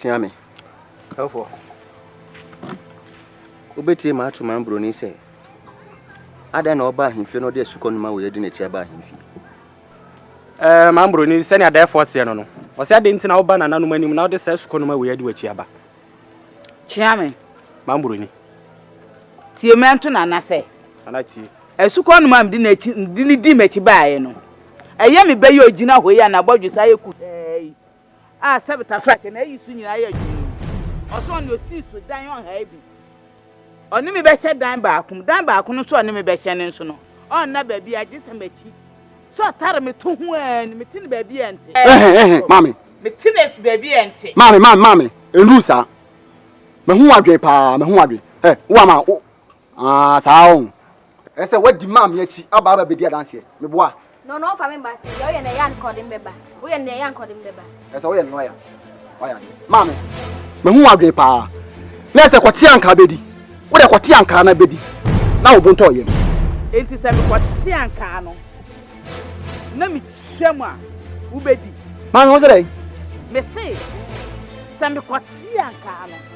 Tia me. Ɛfoɔ. Wobɛtie ma ato ma mbroni sɛ adɛn na ɔba ahemfie na ɔde asukɔ noma wei adi n'akyi aba ahemfie. Ɛɛ eh, ma mbroni sɛnea dɛɛfoɔ seɛ no no ɔsɛ adɛn nti na woba nananom anim na ɔde saa asukɔ noma wei adi w'akyi aba. Kyea me. Ma mburoni. Tie me nto nana sɛ. Nana tie. Asukɔ no ma mede n'akyi mede ne di m'akyi baeɛ no. Ɛyɛ me bɛyɛ ogyina hɔ yi a n'abɔdwesa ayɛ kuhaa yi a sɛbetafrakyɛ na ayi so nyinaa yɛ dwen yi. Ɔsɛ ɔne ɔsii so dan ɔhaa bi. Ɔne me bɛhyɛ dan baako mu. Dan baako no nso a ɔne me bɛhyɛ no nso no, ɔnna baabiara gye sɛ m'akyi. Sɛ ɔtare me to ho ara ni, mete no baabi a ɛnte. Ɛhɛn, ɛhɛn, maame. Mete no baabi a ɛnte. Maame, maame, maame, ɛnnuru saa. Mahu w'adwene paa, mahu w'adwene. Ɛ, wo ama wo, ah, saa o. Ɛsɛ wadi maame akyi aba aba bedi adanseɛ. Meboa. No na ɔmfa me mma se deɛ woyɛ no ɛyɛ a nkɔde me bɛba. Woyɛ no deɛ ɛyɛ a nkɔde me bɛba. Ɛsɛ woyɛ no lɔya. Wayɛ adeɛ. Maame. Mahu w'adwene paa. Na ɛsɛ kɔte ankaa bedi. Wodɛ kɔte ankaa na bedi na wo bo ntɔ yam. Enti sɛ mekɔte ankaa no na mekyia mu a wobedi? Maame, wo se dɛn? Mese sɛ mekɔte ankaa no.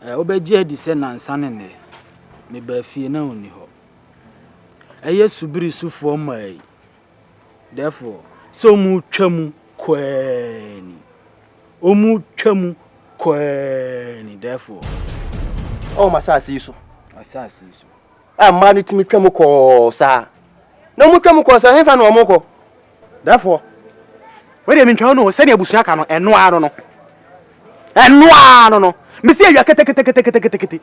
Ɛ, wobɛgye adi sɛ nnansa ne nnɛ, mebaa fie na onni hɔ. Ɛyɛ subiri sofoɔ mmaa yi, therefore, sɛ wɔretwa mu koaa ni. Wɔretwa mu koaa ni, therefore. Ɔwɔ m'asaase yi so. W'asaase yi so. a mmaa no tumi twam kɔ saa na wɔn twam kɔ saa hefa na wɔn kɔ. Dɛfoɔ wei deɛ mentwa no sɛdeɛ abusua ka no ɛno ara no no ɛno ara no no mesi awia keteketeketeketekete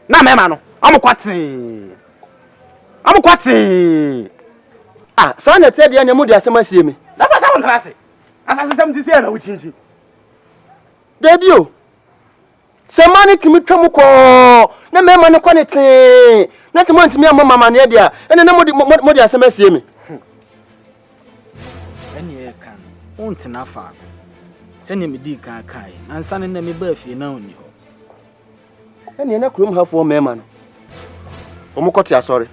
na mɛma no wɔn kɔ tee wɔn kɔ tee. Ah, saa na ɛteɛ deɛ na ɛmu de asɛm asie me. Dɛfoɔ sɛ wɔn tena ase asasesɛm ti sɛ ɛna wokyinkyin. Dabi o. Sɛ mmaa no tumi twa mu kɔ na mmarima no kɔ ne tee na sɛ moantumi ammɔ me amanneɛ deɛ a, ɛnna na mode, mode asɛm asie me. Ɛnneɛ ɛka no, wontena faako. Sɛdeɛ medii kan kaeɛ no, ansa no na mebaa fie na ɔnni hɔ. Ɛnneɛ na kurom hafoɔ mmarima no, wɔkɔte asɔre.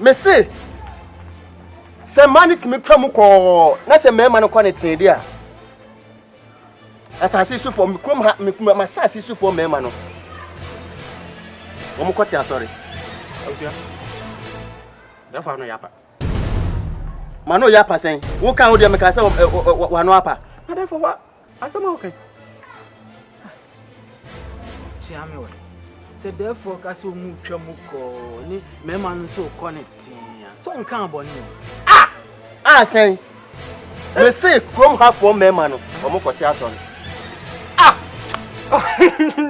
mese sɛ mmaa no tumi twa mu kɔɔ na sɛ mmarima no kɔ ne tee de a asase so fam kurom ha ma asase so fam mmarima no wɔn kɔ te asɔre yɛfa no yapa ma no yapa sɛn wo kan wo deɛ meka sɛ wano apa na dɛfo wa Asɛm a woka kyea me wɔ sɛ dɛɛfoɔ ka sɛ ɔmu twa mu kɔɔ ne mmarima no nso kɔ ne tea sɛ ɔnka abɔne a a sɛn mese kurom hafoɔ mmarima no ɔmokɔte asɔre ah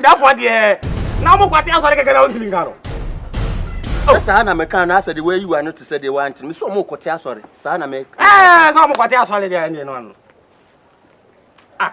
dafoɔ deɛ na ɔmokɔte asɔre kɛkɛ na wontumi nka no sɛ saa na meka no asɛ deɛ woayiwa no te sɛ deɛ woante me sɛ ɔmokɔte asɔre saa na me. Ɛɛ sɛ ɔmo kɔte asɔre deɛ ɛne no ano. Ah.